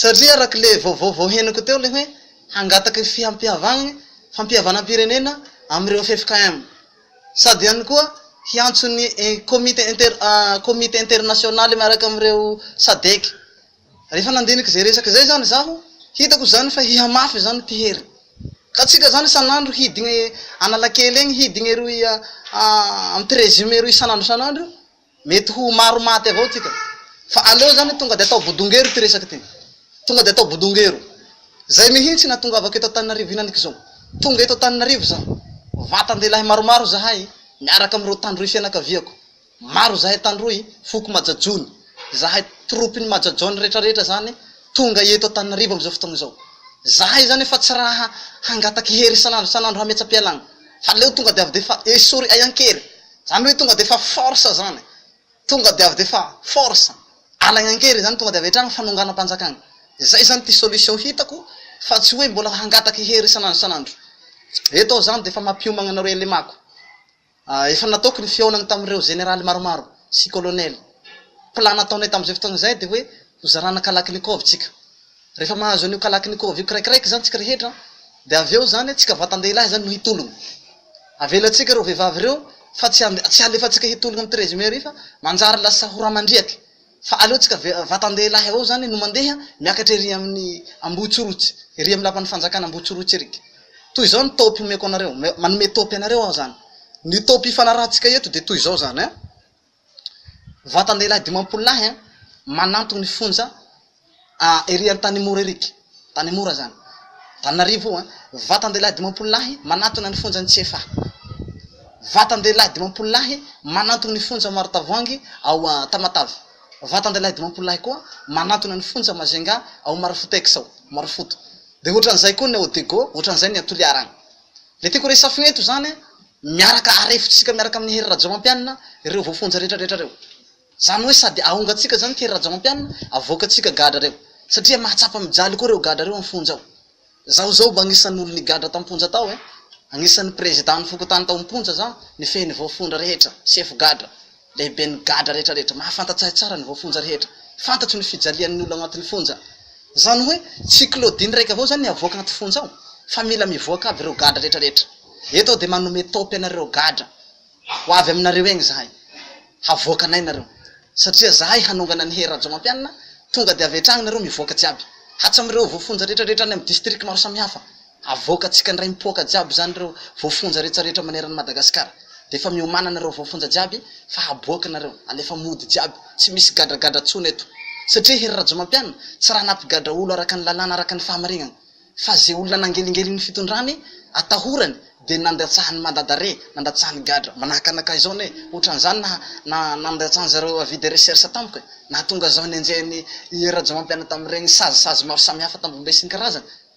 Satria araka ilay vaovao vao henoko teo ilay hoe hangataka fihampihavagna, fampihavanam-pirenena amin'ireo ffkm. Sady ihany koa hiantso ny komity inter, komity internasionaly miaraka amin'ireo sadec. Rehefa nandinika izay resaka izay izany izaho, hitako izany fa hihamafy izany mpihery. Ka tsika izany isan'andro hidigna eo Analakely egny, hidigna eroy amin'ny treizième eroy isan'andro isan'andro io. Mety ho maro maty avao tsika. Fa aleo zany tonga de atao bodongero ty resaka ty. Tonga de atao bodongero. Zay mihintsy natongavako eto Antananarivo hinaniko izao. Tonga eto Antananarivo za. Vatan-dehilahy maromaro zahay miaraka amin'ireo tandroy fianakaviako. Maro zahay tandroy, foko Majajony. Zahay troupes-n'i Majajony retraretra zany tonga eto Antananarivo am'izao fotoagna izao. Zahay zany efa tsy raha hangataky hery isan'andro isan'andro hametsa-pialagna. Fa aleo tonga de avy de efa esory ay an-kery. Zany hoe tonga defa force zany, tonga de avy defa force, alaigna an-keriny zany tonga de avy hatrany fanonganam-panjakana, zay zany ty solution hitako fa tsy hoe mbola hangataky hery isan'andro isan'andro, eto aho zany defa mampiomagna anareo elemako, efa nataoko ny fihaonagna tamin'ireo Général maromaro sy Colonel, plan nataonay tam'izay fotoagna zay de hoe ho zarana Kalachnikov tsika. Rehefa mahazo an'io kalakin'io kôva io kiraikiraiky izany tsika rehetra dia avy eo izany tsika vatan-dehilahy izany no hitologna. Avelantsika ireo vehivavy ireo fa tsy ande- tsy alefantsika hitologna amin'ny treize mairie fa manjary lasa ho ramandriaky. Fa aleontsika ve- vatan-dehilahy avao izany no mandeha miakatra ery amin'ny Ambohitsorotsy, ery amin'ny lapan'ny fanjakana Ambohitsorotsy ery. Toy izao ny top omeko anareo, manome top anareo aho izany. Ny top ifanarahantsika eto dia toy izao izany an! Vatan-dehilahy dimampolo lahy manantona ny fonja ery Antanimora ery, Antanimora izany, Antananarivo io an! Vatan-dehilahy dimampolo lahy manantona ny fonjan'i Tsiefà. Vatan-dehilahy dimampolo lahy manantona ny fonja Maritavoangy ao Tamatave. Vatan-dehilahy dimampolo lahy koa manantona ny fonja Majunga ao Marofotex ao, Marofoto. Dia ohatran'izay koa ny ao Digo, ohatran'izay ny ao Toliara any. Ilay tiako horesafina eto izany an! Miaraka arefotsika miaraka amin'i Hery Rajaomampianina ireo voafonja rehetra rehetra ireo. Izany hoe sady ahongantsika izany Hery Rajaomampianina, avoakantsika gadra ireo. Satria mahatsapa mijaly koa ireo gadra ireo am-fonja ao. Izaho izao mba anisan'ny olo nigadra tam-ponja tao eh! Anisan'ny président-n'ny fokontany tao am-ponja izaho, nifehy ny voafondra rehetra, sefo gadra. Lehiben'ny gadra rehetra rehetra. Mahafantatsahy tsara ny voafonja rehetra. Fantatro ny fijalian'ny olona ao anatin'ny fonja. Zany hoe tsy Claudine raika avao zany ny avoaka anaty fonja ao fa mila mivoaka aby ireo gadra rehetra rehetra. Eto aho dia manome top anareo gadra. Ho avy aminareo egny zahay. Havoakanay nareo. Satria zahay hanongana an'i Hery Rajaomampianina, tonga dia avy hatragny nareo mivoaka jiaby. Hatsamireo voafonja rehetra rehetra any amin'ny district maro samihafa. Havoakantsika ndray mipoaka jiaby zany reo voafonja rehetra rehetra maneran'i Madagascar de efa miomanana reo voafonja jiaby fa haboaka nareo alefa mody jiaby tsy misy gadragadra tsony eto satria Hery Rajomampiana tsy raha nampigadra olo araka ny lalàna araka ny fahamarinana fa ze olona nangelingelin'ny fitondrany atahorany de nandatsahany mandat d'arret nandatsahany gadra manahaka anakahy zao ne otran'izany naha na nandatsahan'zareo avis de recherche tamiko e nahatonga zaho nenjehin'i Hery Rajomampiana tamin'iregny sazy sazy maro samihafa tambohobe isan-karazany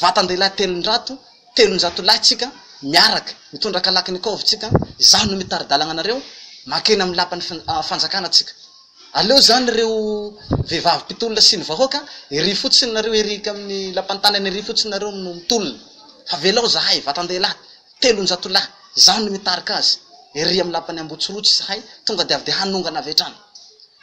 Vatan-dehilahy telonjato, telonjato lahy tsika miaraka, mitondra kalaknikov tsika, izaho no mitari-dalagna anareo, mankeny amin'ny lapan'ny fanjakana tsika. Aleo izany ireo vehivavy mpitolona sy ny vahoaka, ery fotsiny nareo ery amin'ny lapan-tany any ery fotsiny nareo no mitolona. Fa velao zahay, vatan-dehilahy, Telonjato lahy zany no mitarika azy ery amin'ny lapan'i Ambotsirotsy izahay, tonga dia avy dia hanongana avy hatrany,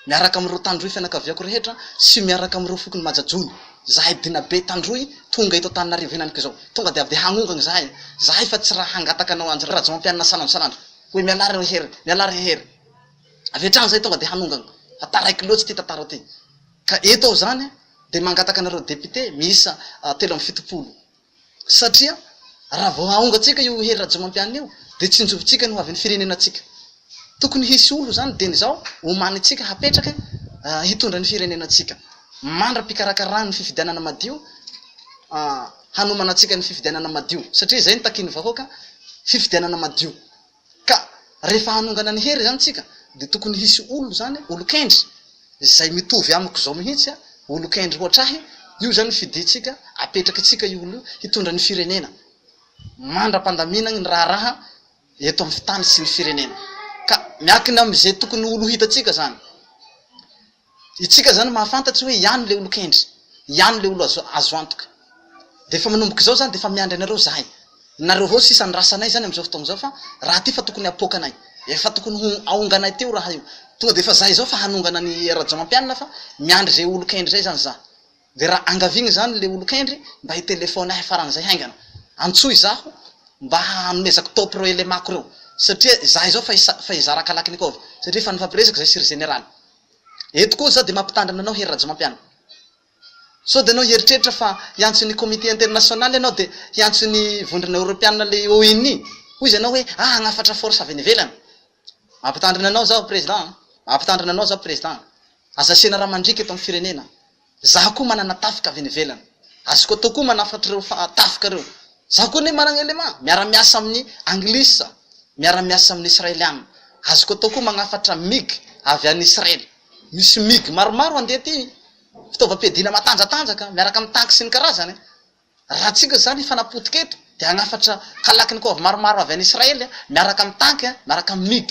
miaraka amin'ireo tandroy fianakaviako rehetra sy miaraka amin'ireo fokon'i Majajony, izahay Dinabe tandroy tonga eto Antananarivo henaniko izao, tonga dia avy dia hanongana izahay, izahay fa tsy raha hangataka anao Andry Rajaomampianina sanandro sanandro hoe mialà re Hery, mialà re Hery, avy hatrany izahay tonga dia hanongana fa taraiky loatsy ity tantara ity, ka eto aho izany dia mangataka anareo députés miisa telo amby fitopolo. satria raha vao haongantsika io Hery Rajaomampianina io dia tsinjovintsika ny ho avin'ny firenenantsika. Tokony hisy olo izany dieny izao omanintsika hapetraka hitondra ny firenenantsika mandra-pikarakarana ny fifidianana madio hanomana antsika ny fifidianana madio satria izay no takian'ny vahoaka, fifidianana madio. Ka rehefa hanongana ny hery izany tsika dia tokony hisy olona izany, olon-kendry, izay mitovy amiko izao mihitsy, olon-kendry hoatr'ahy, io izany ny fidintsika, apetraky tsika io olona io hitondra ny firenena mandra-pandaminany ny raharaha eto amin'ny tany sy ny firenena. Ka miakina amin'izay tokony ho olo hitantsika izany. Itsika zany mahafantatry hoe iany le olon-kendry, iany le olo azo antoka. De efa manomboka izao zany de efa miandry anareo zahay. Nareo avao sisa ny rasanay zany amizao fotoagna zao fa raha ty fa tokony hapoaka anay. Efa tokony ho ahonganay teo raha io. Tonga de efa zahay zao fa hanongana an'i Rajaomampianina fa miandry zay olon-kendry zay zany za. Dia raha angaviagna izany ilay olon-kendry mba hitelefaony ahy faran'izay haingana. Antsoy izaho mba hanomezako top ireo elemako ireo. Satria izaho izao fa hisa fa hizara Kalachnikov. Satria efa nifampiresaka izay sy ry Jeneraly. Eto koa izaho dia mampitandrina anao Hery Rajaomampianina. Sao dia ianao hieritreritra fa hiantso an'ny Comité International ianao dia hiantso ny Vondrona Eoropeanina ilay ONI. Hoy izy anao hoe ah hagnafatra force avy any ivelany. Mampitandrina anao izaho Président a! Mampitandrina anao izaho Président a! Aza asiana ra mandriaka eto amin'ny firenena. Zaho koa manana tafika avy any ivelany. Azoko atao koa manafatra ireo tafika ireo. Zaho koa anie manana élément, miara-miasa amin'ny anglisy aho, miara-miasa amin'ny israeliana. Azoko atao koa magnafatra mig avy any Israely. Misy mig maromaro handeha aty, fitaovam-piadiana matanjatanjaka, miaraka amin'ny tanky sy ny karazany. Raha tsindrina izany efa napotika eto dia hanafatra Kalachnikov maromaro avy any Israely miaraka amin'ny tanky, miaraka amin'ny mig.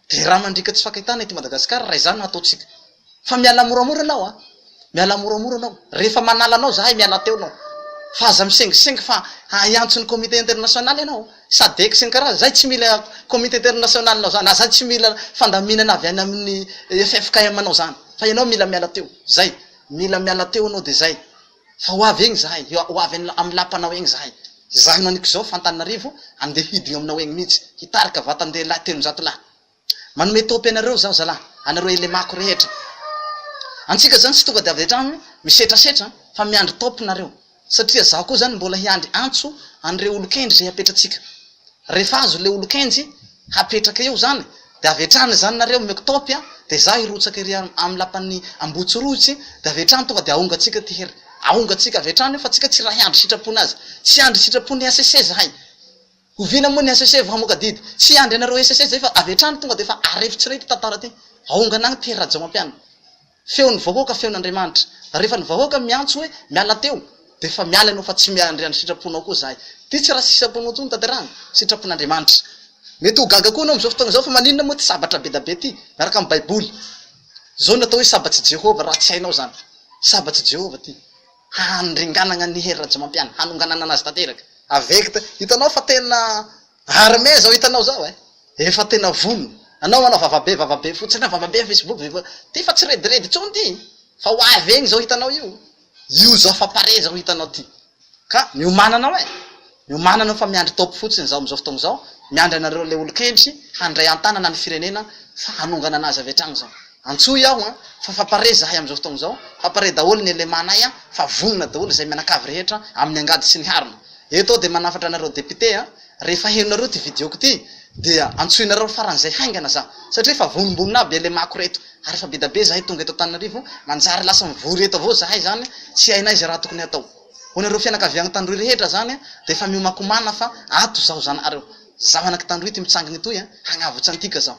Dia rà mandriaka tsy fankahitana ety Madagasikara raha izany no hataontsika. Fa mialà moramora ianao a! Mialà moramora ianao. Rehefa manala anao izahay mialà teo ianao. Fa aza misengisengy fa hiantso ny comité international ianao. Sadec sy ny karazany. Izahay tsy mila comité international-nao izany. Izahay tsy mila fandaminana avy any amin'ny ffkm-nao izany. Fa ianao mila miala teo. Izay. Mila miala teo ianao dia izay. fa ho avy egny zahay, ho avy amin'ny lapanao egny zahay, izaho no an'ikizao fa Antananarivo, andeha hidina eo aminao egny mihitsy, hitarika vatan-dehilahy telonjato lahy. Manome tôpy anareo zaho zalahy, anareo elemako rehetra. Antsika zany tsy tonga dia avy an-tragno misetrasetra fa miandry tôpy nareo, satria zaho koa zany mbola hiandry antso an'ireo olon-kendry izay apetratsika. Rehefa azo le olon-kenjy hapetraka eo zany de avy hatrany izany nareo omeko top a de za hirotsaka ery amin'ny lapan'ny Ambohitsirohitsy de avy hatrany tonga de ahongatsika ty hery ahongatsika avy hatrany eo fa tsika tsy raha hiandry sitrapony azy tsy hiandry sitrapon'ny HCC zahay oviana moa ny HCC vao hamoaka didy tsy hiandry anareo HCC zay fa avy hatrany tonga de efa arefotsirehy ty tantara ty ahongana agny ty hery Rajaomampianina. Feon'ny vahoaka feon'Andriamanitra. Rehefa ny vahoaka miantso hoe miala teo dia efa miala ianao fa tsy miandry ny sitraponao koa izahay. Ity tsy raha sitraponao intsony tanterahina, sitrapon'Andriamanitra. Mety ho gaga koa ianao amin'izao fotoana izao fa maninona moa ity sabatra be da be ity miaraka amin'ny baiboly. Izao no atao hoe sabats'i Jehovah raha tsy hainao izany. Sabats'i Jehovah ity. Handringanagna an'i Hery Rajaomampianina, hanongananana azy tanteraka. Avect, hitanao fa tena Armé zao hitanao zao eh efa tena vono anao manao vavabe vavabe fotsiny na vavabe am facebook ve va ty fa tsy rediredy tsony ty fa ho avy egny zao hitanao io io zao fa pare zao hitanao ty ka miomana anao eh miomana anao fa miandry top fotsiny zaho amizao fotoagna zao miandry anareo le olon-kendry handray an-tanana ny firenena fa hanongana anazy avy hatragny zao antsoy aho an fa fa pare zahay amizao fotoagna zao fa pare daholo ny elemanay an fa vonona daholo izay mianakavy rehetra amin'ny angady sy ny harona Eto aho dia manafatra anareo député a, rehefa henonareo ity video-ko ity dia antsoinareo faran'izay haingana za, satria efa vonombonina aby LMA-ko reto, ary efa bedabe zahay tonga eto Antananarivo, manjary lasa mivory eto avao zahay zany tsy hainay izay raha tokony hatao. Ho anareo fianakaviagny Tandroy rehetra zany dia efa miomakomana fa ato zaho zanahareo. Zaho anak'i Tandroy ity mitsangana etoy a, hagnavotsa antika zaho.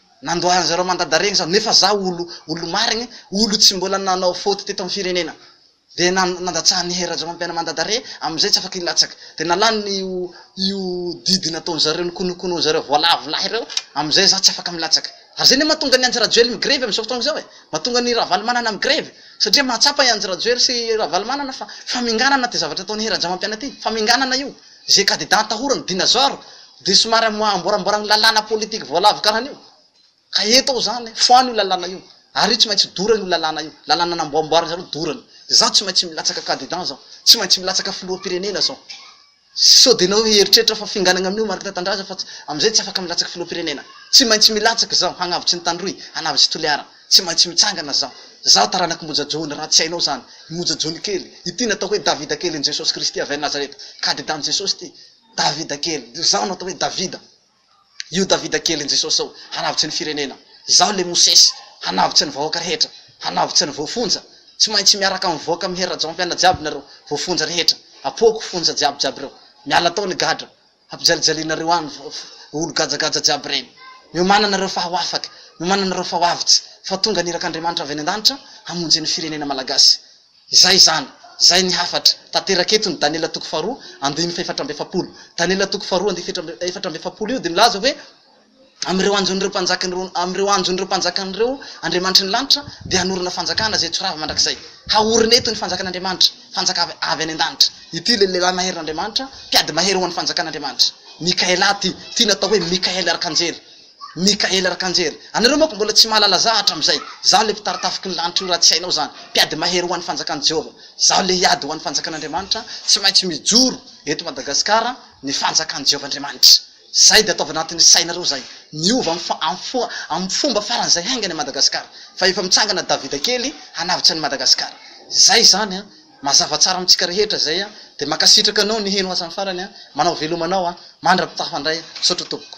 nandoahan zareo mandada regny za nefa za olo olo marigny olo tsy mbola nanao faute teto am firenena de nan nandatsahan'i hery rajaomampiana mandada re amizay tsy afaka hilatsak de nalany io io didy nataon zareo nikonokono zareo voalavo lahy reo amizay za tsy afaka milatsak ary zay ne matonga an'i andry rajoely mi grevy amizao fotoagna zao e matonga an'i ravalomanana mi grevy satria mahatsapa i andry rajoely sy ravalomanana fa faminganana ty zavatra ataon'i hery rajaomampiana ty faminganana io ze cadidat atahorany dinazor Dia somary amboaramboarany ny lalàna politique voalavo karana io. Ka eto aho izany, foano io lalàna io. Ary io tsy maintsy dorana io lalàna io. Lalàna namboamboarin-dry zareo dorana. Izaho tsy maintsy milatsaka candidat izao. Tsy maintsy milatsaka filoham-pirenena izao. Sao dia ianareo hieritreritra fa finganagna amin'io Marc Tatandraza fa amin'izay tsy afaka milatsaka filoham-pirenena. Tsy maintsy milatsaka izaho hagnavotry ny Tandroy, hanavotry Toliara. Tsy maintsy mitsangana izaho. Izaho taranak'i Moja Joony raha tsy hainao izany. I Moja Joony kely. Ity natao hoe Davida kelin'i Jesosy Kristy avy any Nazareta. Candidat-n'i Jesosy ity. Davida kely, izaho no atao hoe Davida, io Davida kelin'i Jesosy zao, hanavotra ny firenena, izaho le Mosesy, hanavotra ny vahoaka rehetra, hanavotra ny voafonja, tsy maintsy miaraka mivoaka mihery rajaonfiaina jiaby nareo voafonja rehetra, apoako fonja jiaby jiaby reo, miala tao ny gadra, hampijalijalianareo any olo gajagaja jiaby reny, miomana nareo fa ho afaka, miomana nareo fa ho avotsa, fa tonga ny irak'Andriamanitra avy any an-danitra hamonjy ny firenena malagasy. Izay izany, izay ny hafatra. Tanteraka eto ny Daniela toko faharoa andininy fahefatra amby efapolo. Daniela toko faharoa andininy fahefatra amby efatra amby efapolo io dia milaza hoe, Amin'ireo anjon'ireo mpanjakan'ireo, amin'ireo anjon'ireo mpanjakan'ireo andriamanitry ny lanitra, dia hanorina fanjakana izay tsy ho rava mandrakizay. Haorina eto ny fanjakan'Andriamanitra, fanjaka avy, avy any an-danitra. Ity ilay lehilahy maherin'Andriamanitra, mpiady mahery ho an'ny fanjakan'Andriamanitra. Mikaela ity, ity natao hoe Mikaela arkanjely. Mikaela Rakanjery. Anareo manko mbola tsy mahalala za hatramizay. Zaho le mpitarotafiky ny lanitra io raha tsy hainao zany. Mpiady mahery ho an'ny fanjakan'i Jehovah. Zaho le hiady ho an'ny fanjakan'Andriamanitra, tsy maintsy mijoro eto Madagasikara ny fanjakan'i Jehovah Andriamanitra. Zay dia ataovy anatin'ny sainareo zay. Miova amin'ny fomba faran'izay haingana i Madagasikara. Fa efa mitsangana Davida kely hanavotra an'i Madagasikara. Zay zany an! Mazava tsara amintsika rehetra zay an! Dia mankasitraka anao niheno hatramin'ny farany an! Manao veloma anao an! Mandra-pitafa ndray. Misaotra tompoko.